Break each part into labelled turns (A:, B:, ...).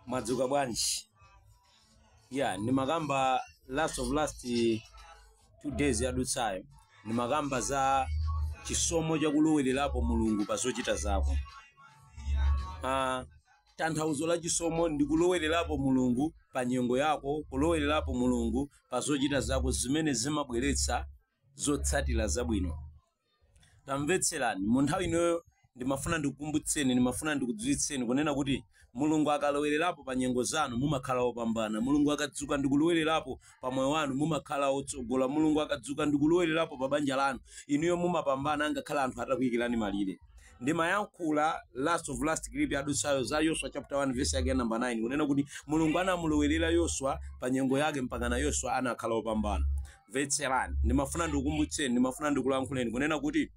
A: mwadzuka bwanji yeah ndimakamba last of last two days yadutsayo ndimakamba za chisomo chakulowererapo mulungu pa zochita zako ah, tanthauzo la chisomo ndi kulowererapo mulungu pa nyengo yako kulowererapo mulungu pa zochita zako zimene zimabweretsa zotsatira zabwino tamvetserani mu nthawi ino ndimafuna ndikukumbutseni ndimafuna ndikudziwitseni kunena kuti mulungu akalowererapo pa nyengo zanu mumakhala opambana mulungu akadzuka ndikulowererapo pa moyo wanu mumakhala otsogola mulungu akadzuka ndikulowererapo pa banja lanu inuyo mumapambana angakhale anthu atakuyikirani malire ndimayankhula last of last clip yadutsayo za yoswa chapter 1 verse yake ya namba 9 kunena kuti mulungu anamulowerera yoswa pa nyengo yake mpakana yoswa anakhala opambana Mvetserani, ndimafuna ndikukumbutseni, ndimafuna ndikulankhuleni kunena kuti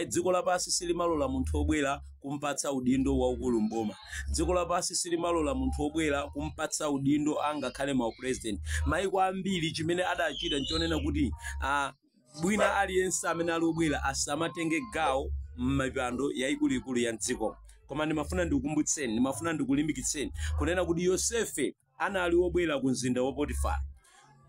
A: dziko lapansi silimalola munthu obwera kumpatsa udindo waukulu mboma dziko lapansi silimalola munthu obwera kumpatsa udindo angakhale ma president maiko ambiri chimene adachita nchonena kuti ah, bwina aliyense amene ali obwera asamatenge gawo m'mipando yaikuluikulu ya mdziko koma ndimafuna ndikukumbutseni ndimafuna ndikulimbikitseni kunena kuti yosefe anali wobwera ku mzinda wa Potifara.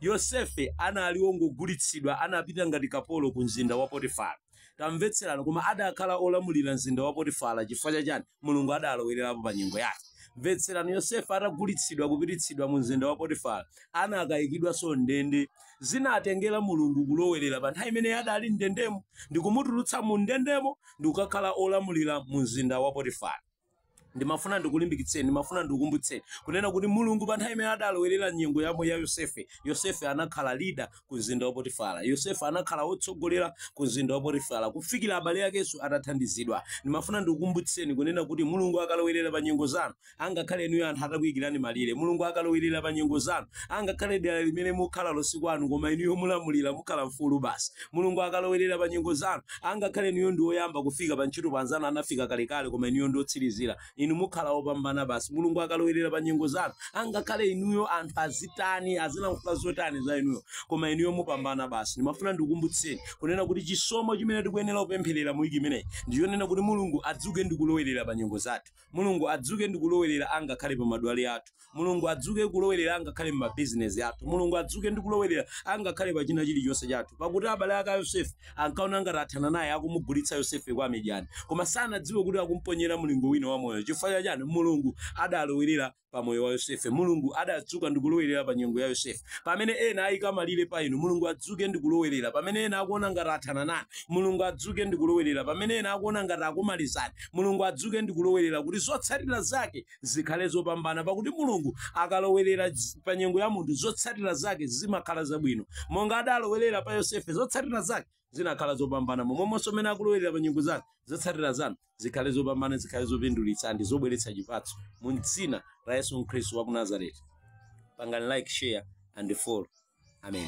A: Yosefe anali wongogulitsidwa, anapita ngati kapolo ku mzinda wa Potifara. Tamvetserani, koma adakhala olamulira mzinda wa Potifara chifukwa cha chani? Mulungu adalowererapo pa nyengo yake. Mvetserani, Yosefe atagulitsidwa kupititsidwa mu mzinda wa Potifara, anakayikidwanso m'ndende. Zinatengera Mulungu kulowerera pa nthawi imene adali m'ndendemo ndi kumutulutsa mu ndendemo ndi kukakhala olamulira mu mzinda wa Potifara. ndimafuna ndikulimbikitseni ndimafuna ndikukumbutseni kunena kuti mulungu pa nthawi imene adalowerera nyengo yamo ya yosefe yosefe anakhala leader ku mzinda wa potifara yosefe anakhala wotsogolera ku mzinda wa potifara kufikira abale akenso adathandizidwa ndimafuna ndikukumbutseni kunena kuti mulungu akalowerera pa nyengo zanu angakhale inuyo anthu atakuyikirani malire mulungu akalowerera pa nyengo zanu angakhale dera limene mukhalalo si kwanu koma inuyo mulamulira mukhala mfulu basi Mulungu akalowerera pa nyengo zanu, angakhale inuyo ndi woyamba kufika pa ntchito pamene anzanu anafika kalekale koma inuyo ndi otsirizira, inu mukhala opambana basi. Mulungu akalowerera pa nyengo zanu, angakhale inuyo anthu azitani, azilankhula zotani za inuyo, koma inuyo mupambana basi. Ndimafuna ndikukumbutseni kunena kuti chisomo chimene tikuyenera kupempherera mu wiki imeneyi ndi chonena kuti Mulungu adzuke ndi kulowerera pa nyengo zathu. Mulungu adzuke ndi kulowerera angakhale pa madwale athu. Mulungu adzuke kulowerera angakhale mu mabizinesi athu. Mulungu adzuke ndi kulowerera angakhale pa china chilichonse chathu. Pakuti abale ake a Yosefe ankaona ngati athana naye akumugulitsa Yosefe kwa Amidyani. Koma sanadziwe kuti akumponyera mlingo wina wa moyo. Chifukwa cha chani? Mulungu adalowerera pa moyo wa yosefe mulungu adadzuka ndikulowerera pa nyengo ya yosefe pamene ena ayika malire pa inu mulungu adzuke ndikulowerera pamene ena akuona ngati athana nanu mulungu adzuke ndikulowerera pamene ena akuona ngati akumalizani mulungu adzuke ndikulowerera kuti zotsatira zake zikhale zopambana pakuti mulungu akalowerera z- pa nyengo ya munthu zotsatira zake zimakhala zabwino monga adalowerera pa yosefe zotsatira zake zinakhala zopambana momwemonso mmene akulowerera pa nyengo zanu zotsatira zanu zikhale zopambana zikhale zopindulitsa ndi zobweretsa chipatso mu dzina la yesu khristu wa ku nazareti pangani like share and follow amen